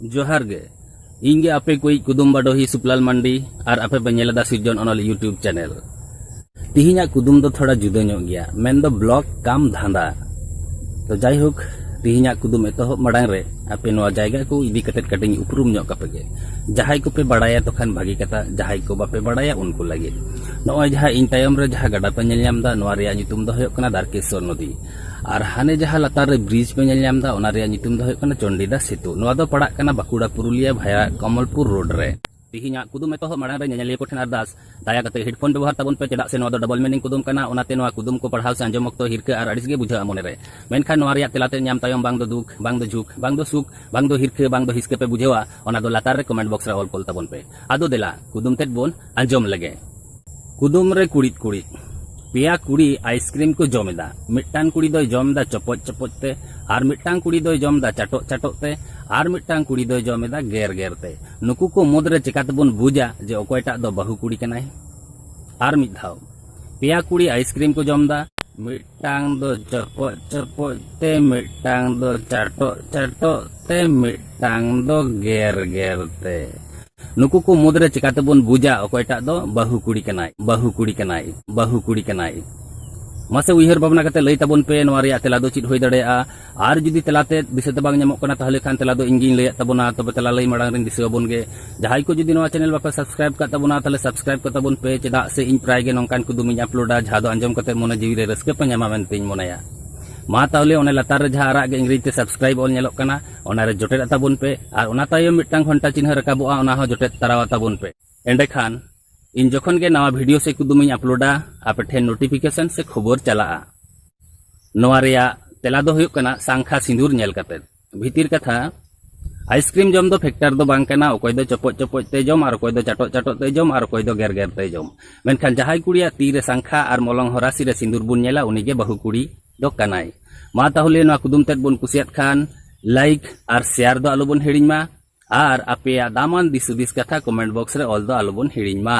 ᱡᱚᱦᱟᱨ ᱜᱮ ᱤᱧ ᱜᱮ ᱟᱯᱮ ᱠᱚᱭᱤᱡ ᱠᱩᱫᱩᱢ ᱵᱟᱰᱚᱦᱤ ᱥᱩᱯᱞᱟᱞ ᱢᱟᱱᱰᱤ ᱟᱨ ᱟᱯᱮ ᱯᱮ ᱧᱮᱞ ᱮᱫᱟ ᱥᱤᱨᱡᱚᱱ ᱚᱱᱚᱞ ᱤᱭᱩᱴᱤᱭᱩᱵᱽ ᱪᱮᱱᱮᱞ ᱛᱤᱦᱤᱧᱟᱜ ᱠᱩᱫᱩᱢ ᱫᱚ ᱛᱷᱚᱲᱟ ᱡᱩᱫᱟᱹ ᱧᱚᱜ ᱜᱮᱭᱟ ᱢᱮᱱ ᱫᱚ ᱵᱞᱚᱜ ᱠᱟᱢ ᱫᱷᱟᱸᱫᱟ ᱛᱚ ᱡᱟᱭᱦᱳᱠ ᱛᱤᱦᱤᱧᱟᱜ ᱠᱩᱫᱩᱢ ᱮᱛᱚᱦᱚᱵ ᱢᱟᱲᱟᱝ ᱨᱮ ᱟᱯᱮ ᱱᱚᱣᱟ ᱡᱟᱭᱜᱟ ᱠᱚ ᱤᱫᱤ ᱠᱟᱛᱮ ᱠᱟᱹᱴᱤᱧ ᱩᱯᱨᱩᱢ ᱧᱚᱜ ᱠᱟᱯᱮ ᱜᱮ ᱡᱟᱦᱟᱸᱭ ᱠᱚᱯᱮ ᱵᱟᱲᱟᱭᱟ ᱛᱚᱠᱷᱟᱱ ᱵᱷᱟᱹᱜᱤ ᱠᱟᱛᱷᱟ ᱡᱟᱦᱟᱸᱭ ᱠᱚ ᱵᱟᱯᱮ ᱵᱟᱲᱟᱭᱟ ᱩᱱᱠᱩ ᱞᱟᱹᱜᱤᱫ ᱱᱚᱜᱼᱚᱭ ᱡᱟᱦᱟᱸ ᱤᱧ ᱛᱟᱭᱚᱢ ᱨᱮ ᱡᱟᱦᱟᱸ ᱜᱟᱰᱟ ᱯᱮ ᱧᱮᱞ ᱧᱟᱢ ᱮᱫᱟ ᱱᱚᱣᱟ ᱨᱮᱭᱟᱜ ᱧᱩᱛᱩᱢ ᱫᱚ ᱦᱩᱭᱩᱜ ᱠᱟᱱᱟ ᱫᱟᱨᱠᱮᱥᱚᱨ ᱱᱚᱫᱤ ᱟᱨ ᱦᱟᱱᱮ ᱡᱟᱦᱟᱸ ᱞᱟᱛᱟᱨ ᱨᱮ ᱵᱨᱤᱡᱽ ᱯᱮ ᱧᱮᱞ ᱧᱟᱢ ᱮᱫᱟ ᱚᱱᱟ ᱨᱮᱭᱟᱜ ᱧᱩᱛᱩᱢ ᱫᱚ ᱦᱩᱭᱩᱜ ᱠᱟᱱᱟ ᱪᱚᱱᱰᱤᱫᱟ ᱥᱮᱛᱩ ᱱᱚᱣᱟ ᱫᱚ ᱯᱟᱲᱟᱜ ᱠᱟᱱᱟ ᱵᱟᱸᱠᱩᱲᱟ ᱯᱩᱨᱩᱞᱤᱭᱟᱹ ᱵᱷᱟᱭᱟ ᱠᱚᱢᱚᱞᱯᱩᱨ ᱨᱳᱰ ᱨᱮ ᱛᱮᱦᱮᱧᱟᱜ ᱠᱩᱫᱩᱢ ᱮᱛᱚᱦᱚᱵ ᱢᱟᱲᱟᱝ ᱨᱮ ᱧᱮᱧᱮᱞᱤᱭᱟᱹ ᱠᱚᱴᱷᱮᱱ ᱟᱨᱫᱟᱥ ᱫᱟᱭᱟ ᱠᱟᱛᱮ ᱦᱮᱰᱯᱷᱳᱱ ᱵᱮᱵᱚᱦᱟᱨ ᱛᱟᱵᱚᱱ ᱯᱮ ᱪᱮᱫᱟᱜ ᱥᱮ ᱱᱚᱣᱟ ᱫᱚ ᱰᱚᱵᱚᱞ ᱢᱤᱱᱤᱝ ᱠᱩᱫᱩᱢ ᱠᱟᱱᱟ ᱚᱱᱟᱛᱮ ᱱᱚᱣᱟ ᱠᱩᱫᱩᱢ ᱠᱚ ᱯᱟᱲᱦᱟᱣ ᱥᱮ ᱟᱸᱡᱚᱢ ᱚᱠᱛᱚ ᱦᱤᱨᱠᱟᱹ ᱟᱨ ᱟᱹᱲᱤᱥ ᱜᱮ ᱵᱩᱡᱷᱟᱹᱜᱼᱟ ᱢᱚᱱᱮ ᱨᱮ ᱢᱮᱱᱠᱷᱟᱱ ᱱᱚᱣᱟ ᱨᱮᱭᱟᱜ ᱛᱮᱞᱟ ᱛᱮᱫ ᱧᱟᱢ ᱛᱟᱭᱚᱢ ᱵᱟᱝ ᱫᱚ ᱫᱩᱠ ᱵᱟᱝ ᱫᱚ ᱡᱷᱩᱠ ᱵᱟᱝ ᱫᱚ ᱥᱩᱠ ᱵᱟᱝ ᱫᱚ ᱦᱤᱨᱠᱟᱹ ᱵᱟᱝ ᱫᱚ ᱦᱤᱥᱠᱟᱹ ᱯᱮ ᱵᱩᱡᱷᱟᱹᱣᱟ ᱚᱱᱟ ᱫᱚ ᱞᱟᱛᱟᱨ ᱨᱮ ᱠᱚᱢᱮᱱᱴ ᱵᱚᱠᱥ ᱨᱮ ᱚᱞ ᱠᱚᱞ ᱛᱟᱵᱚᱱ ᱯᱮ ᱟᱫᱚ ᱫᱮᱞᱟ ᱠᱩᱫᱩᱢ ᱛᱮᱫ ᱵᱚᱱ ᱟᱸᱡᱚᱢ ᱞᱮᱜᱮ ᱠᱩᱫᱩᱢ ᱨᱮ ᱠᱩᱲᱤᱫ ᱠᱩᱲᱤᱫ ᱯᱮᱭᱟ ᱠᱩᱲᱤ ᱟᱭᱤᱥᱠᱨᱤᱢ ᱠᱚ ᱡᱚᱢ ᱮᱫᱟ ᱢᱤᱫᱴᱟᱝ ᱠᱩᱲᱤ ᱫᱚᱭ ᱡᱚᱢ ᱮᱫᱟ ᱪᱚᱯᱚᱡ ᱪᱚᱯᱚᱡ ᱛᱮ ᱟᱨ ᱢᱤᱫᱴᱟᱝ ᱠᱩᱲᱤ ᱫᱚᱭ ᱡᱚᱢ ᱮᱫᱟ ᱪᱟᱴᱚᱜ ᱪᱟᱴᱚᱜ ᱛᱮ ᱟᱨ ᱢᱤᱫᱴᱟᱝ ᱠᱩᱲᱤ ᱫᱚᱭ ᱡᱚᱢ ᱮᱫᱟ ᱜᱮᱨ ᱜᱮᱨ ᱛᱮ ᱱᱩᱠᱩ ᱠᱚ ᱢᱩᱫᱽ ᱨᱮ ᱪᱮᱠᱟ ᱛᱮᱵᱚᱱ ᱵᱩᱡᱟ ᱡᱮ ᱚᱠᱚᱭᱴᱟᱜ ᱫᱚ ᱵᱟᱹᱦᱩ ᱠᱩᱲᱤ ᱠᱟᱱᱟᱭ ᱟᱨ ᱢᱤᱫ ᱫᱷᱟᱣ ᱯᱮᱭᱟ ᱠᱩᱲᱤ ᱟᱭᱤᱥᱠᱨᱤᱢ ᱠᱚ ᱡᱚᱢ ᱮᱫᱟ ᱢᱤᱫᱴᱟᱝ ᱫᱚ ᱪᱚᱯᱚᱡ ᱪᱚᱯᱚᱡ ᱛᱮ ᱢᱤᱫᱴᱟᱝ ᱫᱚ ᱪᱟᱴᱚᱜ ᱪᱟᱴᱚᱜ ᱛᱮ ᱢᱤᱫᱴᱟᱝ ᱫᱚ ᱜᱮᱨ ᱜᱮᱨ ᱛᱮ ᱱᱩᱠᱩ ᱠᱚ ᱢᱩᱫᱽᱨᱮ ᱪᱤᱠᱟᱛᱮᱵᱚᱱ ᱵᱩᱡᱟ ᱚᱠᱚᱭᱴᱟᱜ ᱫᱚ ᱵᱟᱹᱦᱩ ᱠᱩᱲᱤ ᱠᱟᱱᱟᱭ ᱵᱟᱹᱦᱩ ᱠᱩᱲᱤ ᱠᱟᱱᱟᱭ ᱵᱟᱹᱦᱩ ᱠᱩᱲᱤ ᱠᱟᱱᱟᱭ ᱢᱟᱥᱮ ᱩᱭᱦᱟᱹᱨ ᱵᱷᱟᱵᱽᱱᱟ ᱠᱟᱛᱮ ᱞᱟᱹᱭ ᱛᱟᱵᱚᱱ ᱯᱮ ᱱᱚᱣᱟ ᱨᱮᱭᱟᱜ ᱛᱮᱞᱟ ᱫᱚ ᱪᱮᱫ ᱦᱩᱭ ᱫᱟᱲᱮᱭᱟᱜᱼᱟ ᱟᱨ ᱡᱩᱫᱤ ᱛᱮᱞᱟᱛᱮ ᱫᱤᱥᱟᱹᱛᱮ ᱵᱟᱝ ᱧᱟᱢᱚᱜ ᱠᱟᱱᱟ ᱛᱟᱦᱚᱞᱮ ᱠᱷᱟᱱ ᱛᱮᱞᱟ ᱫᱚ ᱤᱧᱜᱤᱧ ᱞᱟᱹᱭᱟᱫ ᱛᱟᱵᱚᱱᱟ ᱛᱚᱵᱮ ᱛᱮᱞᱟ ᱞᱟᱹᱭ ᱢᱟᱲᱟᱝ ᱨᱤᱧ ᱫᱤᱥᱟᱹ ᱟᱵᱚᱱ ᱜᱮ ᱡᱟᱦᱟᱸᱭ ᱠᱚ ᱡᱩᱫᱤ ᱱᱚᱣᱟ ᱪᱮᱱᱮᱞ ᱵᱟᱯᱮ ᱥᱟᱵᱥᱠᱨᱟᱭᱤᱵ ᱠᱟᱜ ᱛᱟᱵᱚᱱᱟ ᱛᱟᱦᱚᱞᱮ ᱥᱟᱵᱥᱠᱨᱟᱭᱤᱵ ᱠᱟᱜ ᱛᱟᱵᱚᱱ ᱯᱮ ᱪᱮᱫᱟᱜ ᱥᱮ ᱤᱧ ᱯᱨᱟᱭ ᱜᱮ ᱱᱚᱝᱠᱟᱱ ᱠᱩᱫᱩᱢᱤᱧ ᱟᱯᱞᱳᱰᱟ ᱡᱟᱦᱟᱸ ᱫᱚ ᱟᱸᱡᱚᱢ ᱠᱟᱛᱮ ᱢᱚᱱᱮ ᱡᱤᱣᱤ ᱨᱮ ᱨᱟᱹᱥᱠᱟᱹ ᱯᱮ ᱧᱟᱢᱟ ᱢᱮᱱᱛᱮᱧ ᱢᱚᱱᱮᱭᱟ ᱢᱟ ᱛᱟᱦᱚᱞᱮ ᱚᱱᱮ ᱞᱟᱛᱟᱨ ᱨᱮ ᱡᱟᱦᱟᱸ ᱟᱨᱟᱜ ᱜᱮ ᱤᱝᱨᱮᱡᱤ ᱛᱮ ᱥᱟᱵᱥᱠᱨᱟᱭᱤᱵ ᱚᱞ ᱧᱮᱞᱚᱜ ᱠᱟᱱᱟ ᱚᱱᱟᱨᱮ ᱡᱚᱴᱮᱫ ᱟᱛᱟᱵᱚᱱ ᱯᱮ ᱟᱨ ᱚᱱᱟ ᱛᱟᱭᱚᱢ ᱢᱤᱫᱴᱟᱝ ᱜᱷᱚᱱᱴᱟ ᱪᱤᱱᱦᱟᱹ ᱨᱟᱠᱟᱵᱚᱜᱼᱟ ᱚᱱᱟ ᱦᱚᱸ ᱡᱚᱴᱮᱫ ᱛᱟᱨᱟᱣ ᱟᱛᱟᱵᱚᱱ ᱯᱮ ᱮᱸᱰᱮᱠᱷᱟᱱ ᱤᱧ ᱡᱚᱠᱷᱚᱱ ᱜᱮ ᱱᱟᱣᱟ ᱵᱷᱤᱰᱤᱭᱳ ᱥᱮ ᱠᱩᱫᱩᱢᱤᱧ ᱟᱯᱞᱳᱰᱟ ᱟᱯᱮ ᱴᱷᱮᱱ ᱱᱳᱴᱤᱯᱷᱤᱠᱮᱥᱚᱱ ᱥᱮ ᱠᱷᱚᱵᱚᱨ ᱪᱟᱞᱟᱜᱼᱟ ᱱᱚᱣᱟ ᱨᱮᱭᱟᱜ ᱛᱮᱞᱟ ᱫᱚ ᱦᱩᱭᱩᱜ ᱠᱟᱱᱟ ᱥᱟᱝᱠᱷᱟ ᱥᱤᱸᱫᱩᱨ ᱧᱮᱞ ᱠᱟᱛᱮ ᱵᱷᱤᱛᱤᱨ ᱠᱟᱛᱷᱟ ᱟᱭᱤᱥᱠᱨᱤᱢ ᱡᱚᱢ ᱫᱚ ᱯᱷᱮᱠᱴᱟᱨ ᱫᱚ ᱵᱟᱝ ᱠᱟᱱᱟ ᱚᱠᱚᱭ ᱫᱚ ᱪᱚᱯᱚᱡ ᱪᱚᱯᱚᱡ ᱛᱮ ᱡᱚᱢ ᱟᱨ ᱚᱠᱚᱭ ᱫᱚ ᱪᱟᱴᱚᱜ ᱪᱟᱴᱚᱜ ᱛᱮ ᱡᱚᱢ ᱟᱨ ᱚᱠᱚᱭ ᱫᱚ ᱜᱮᱨ ᱜᱮᱨ ᱛᱮ ᱡᱚᱢ ᱢᱮᱱᱠᱷᱟᱱ ᱡᱟᱦᱟᱸᱭ ᱠᱩᱲᱤᱭᱟᱜ ᱛᱤ ᱨᱮ ᱥᱟᱝᱠᱷᱟ ᱟᱨ ᱢᱚᱞᱚᱝ ᱦᱚᱨᱟᱥᱤ ᱨᱮ ᱥᱤᱸᱫᱩᱨ ᱵᱚᱱ ᱧᱮᱞᱟ ᱩᱱᱤ ᱜᱮ ᱵᱟᱹᱦᱩ ᱠᱩᱲᱤ ᱫᱚ ᱠᱟᱱᱟᱭ ᱢᱟ ᱛᱟᱦᱚᱞᱮ ᱱᱚᱣᱟ ᱠᱩᱫᱩᱢ ᱛᱮᱫ ᱵᱚᱱ ᱠᱩᱥᱤᱭᱟᱫ ᱠᱷᱟᱱ ᱞᱟᱭᱤᱠ ᱟᱨ ᱥᱮᱭᱟᱨ ᱫᱚ ᱟᱞᱚ ᱵᱚᱱ ᱦᱤᱲᱤᱧ ᱢᱟ ᱟᱨ ᱟᱯᱮᱭᱟᱜ ᱫᱟᱢᱟᱱ ᱫᱤᱥ ᱦᱩᱫᱤᱥ ᱠᱟᱛᱷᱟ ᱠᱚᱢᱮᱱᱴ ᱵᱚᱠᱥ ᱨᱮ ᱚᱞ ᱫᱚ ᱟᱞᱚ ᱵᱚᱱ ᱦᱤᱲᱤᱧ ᱢᱟ